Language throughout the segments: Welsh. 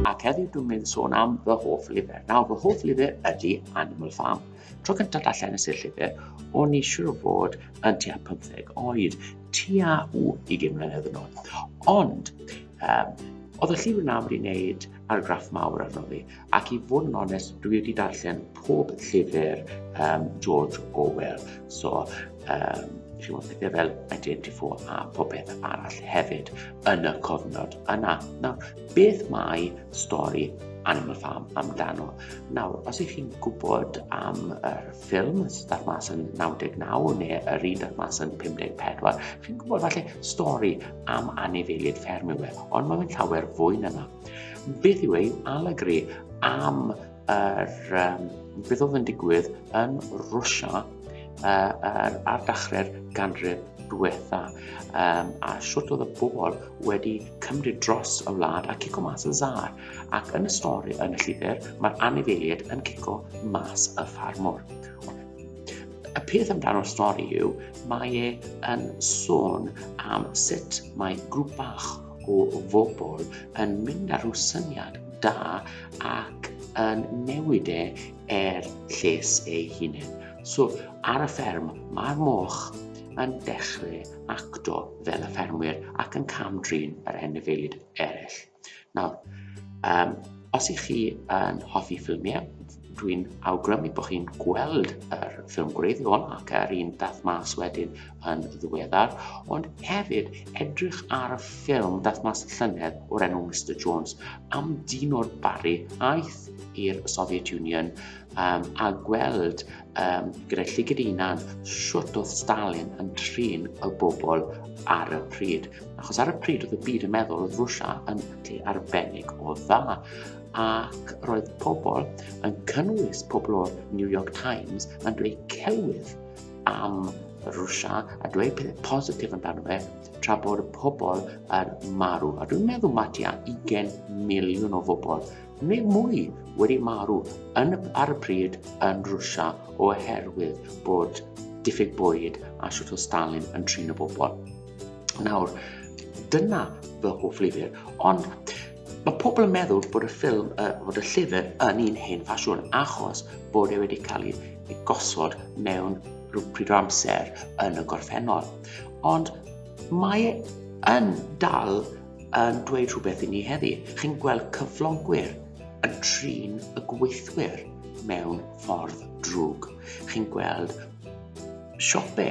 Ac heddiw dwi'n mynd sôn am fy hoff lyfr. Nawr, fy hoff lyfr ydy Animal Farm. Tro cyntaf allan nes i'r llyfr, o'n i siwr o fod yn tua 15 oed, tua u 20 mlynedd yn ôl. Ond, um, oedd y llyfr yna wedi wneud argraff mawr arno fi, Ac i fod yn onest, dwi wedi darllen pob llyfr um, George Orwell. So, um, chi'n gwybod, pethau fel 1984 a pob beth arall hefyd yn y cofnod yna. Nawr, beth mae stori Animal Farm amdano? Nawr, os ych chi'n gwybod am yr ffilm sydd mas yn 99 neu yr un sydd mas yn 54, chi'n gwybod falle stori am anifeiliaid fferm yw e, ond mae'n llawer fwy na Beth yw ein alegri am yr, um, beth oedd yn digwydd yn Rwysia uh, ar, ar dachrau'r ganrif diwetha um, a sut oedd y bobl wedi cymryd dros y wlad a cico mas y zar. Ac yn y stori yn y llyfr, mae'r anifeiliad yn cico mas y ffarmwr. Y peth amdano'r stori yw, mae e yn sôn am sut mae grŵp bach o fobl yn mynd ar rhyw syniad da ac yn newid e er lles ei hunain. So, ar y fferm, mae'r moch yn dechrau acto fel y ffermwyr ac yn cam-drin yr enefeilid eraill. Nawr, um, os ych chi yn hoffi ffilmiau, Dwi'n awgrymu bod chi'n gweld yr ffilm gwreiddiol ac yr un dath mas wedyn yn ddiweddar, ond hefyd edrych ar y ffilm dath mas llynedd o'r enw Mr Jones am dyn o'r Barri aeth i'r Soviet Union um, a gweld um, gyda llygyd unan siwt oedd Stalin yn trin y bobl ar y pryd. Achos ar y pryd oedd y byd yn meddwl oedd Rwysia yn lle arbennig o dda ac roedd pobl, yn cynnwys pobl o'r New York Times, yn dweud celwydd am Rwysia a dweud pethau positif amdano fe, tra bod y pobl yn marw. A dwi'n meddwl mae tua 20 miliwn o bobl neu mwy wedi marw yn, ar y pryd yn Rwysia oherwydd bod diffyg bwyd a siwt o Stalin yn trin y bobl. Nawr, dyna fy hoff lyfr, ond Mae pobl yn meddwl bod y ffilm y fod y llyfr yn un hen ffasiwn achos bod e wedi cael ei gosod mewn rhyw pryd o amser yn y gorffennol. Ond mae e yn dal yn dweud rhywbeth i ni heddi. Chi'n gweld cyflogwyr yn trin y gweithwyr mewn ffordd drwg. Chi'n gweld siope,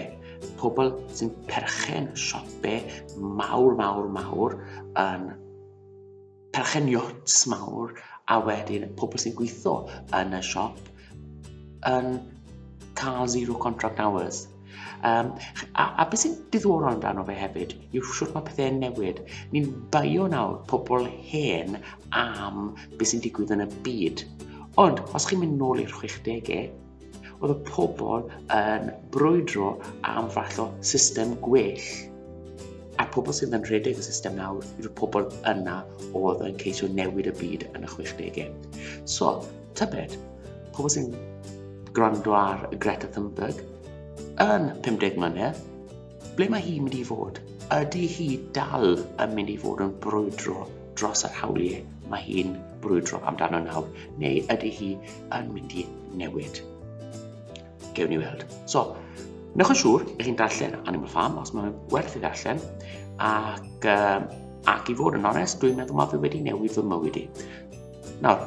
pobl sy'n perchen siope mawr, mawr, mawr yn perchen yachts mawr a wedyn pobl sy'n gweithio yn y siop yn cael zero contract hours. Um, a, a beth sy'n diddorol amdano fe hefyd yw siwr mae pethau'n newid. Ni'n baio nawr pobl hen am beth sy'n digwydd yn y byd. Ond, os chi'n mynd nôl i'r 60au, Oedd y pobl yn brwydro am fath o system gwell. A'r pobl sydd yn rhedeg y system nawr yw'r pobl yna oedd yn ceisio newid y byd yn y 60au. So, tybed, pobl sy'n gwrando ar Greta Thunberg yn 50 mlynedd, Ble mae hi'n mynd i fod? Ydy hi dal yn mynd i fod yn brwydro dros yr hawliau mae hi'n brwydro amdano nawr, neu ydy hi yn mynd i newid? Gewn ni weld. So, newch yn siŵr i chi'n darllen Animal Farm os mae'n werth i ddarllen, ac, um, ac i fod yn onest, dwi'n meddwl mae fi wedi newid fy mywyd i. Nawr,